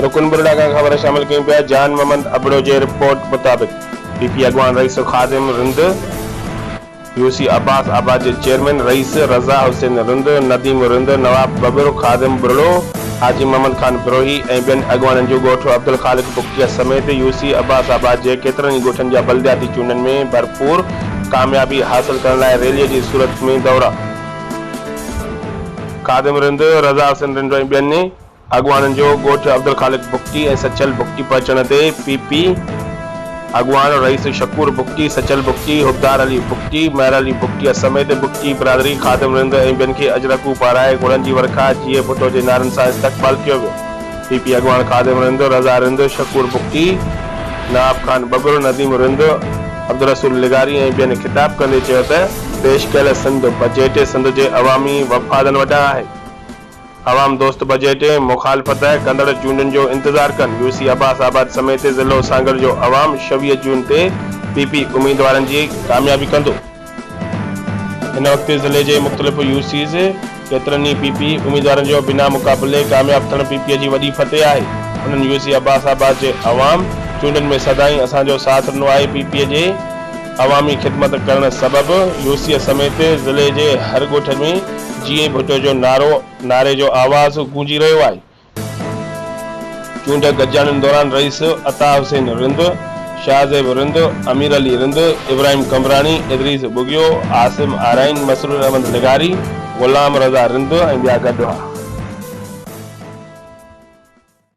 رڪن برڙا کان خبر شامل ڪيون پيا جان محمد ابڙو جي رپورٽ مطابق پي پي اڳواڻ رئيس خادم رند، يو سي عباس آباد جي چيئرمين رئيس، رضا حسين رند، نديم رند، نواب ٻٻر، خادم ٻرڙو، حاجي محمد خان بروهي ۽ ٻين اڳواڻن جو ڳوٺ عبدالخالق بگٽيا سميت يو سي عباس آباد جي ڪيترن ئي ڳوٺن جا بلدياتي چونڊن ۾ ڀرپور ڪاميابي حاصل ڪرڻ لاء ريلي جي صورت ۾ دورا خادم رند، رضا حسين رند ۽ ٻين اڳواڻن جو ڳوٺ عبدالخالق بگٽي ۽ سچل بگٽي پهچڻ تي پي پي اڳواڻ رئيس شڪور بگٽي، سچل بگٽي، حبدار علي بگٽي، مهر علي بگٽيء سميت بگٽي برادري، خادم رند ۽ ٻين کي اجرڪون پارائي گلن جي ورکا، جيئي ڀٽو جي نعرن سان استقبال ڪيو ويو. پي پي اڳواڻ خادم رند، رضا رند، شڪور بگٽي، نواب خان ٻگهڙ، نديم رند، عبدالرسول لغاري ۽ ٻين خطاب ڪندي چيو ته، پيش ڪيل سنڌ بجيٽ سنڌ جي عوامي وفادن وٽان آهي. عوام دوست بجيٽ ۽ مخالفت ڪندڙ چونڊن جو انتظار ڪن، يو سي عباس آباد سميت ضلعو سانگهڙ جو عوام شويهه جون تي پي پي اميدوارن جي ڪاميابي ڪندو. هن وقت ضلعي جي مختلف يو سيز ڪيترن ئي پي پي اميدوارن جو بنا مقابلي ڪامياب ٿيڻ پي پي جي وڏي فتح آهي، انهن يو سي عباس آباد جي عوام چونڊن ۾ سدائين اسان جو ساٿ ڏنو آهي، پي پي جي. عوامي خدمت ڪرڻ سبب يوسيء سميت ضلعي جي هر ڳوٺ ۾ جيئي ڀٽو جو نعرو نعري جو آواز گونجي رهيو آهي. چونڊ گڏجاڻين دوران رئيس عطا حسين رند، شاهزيب رند، امير علي رند، ابراهيم قمبراڻي، ادريس ٻگهيو، عاصم آرائين، مسرور احمد لغاري، غلام رضا رند ۽ ٻيا گڏ هئا.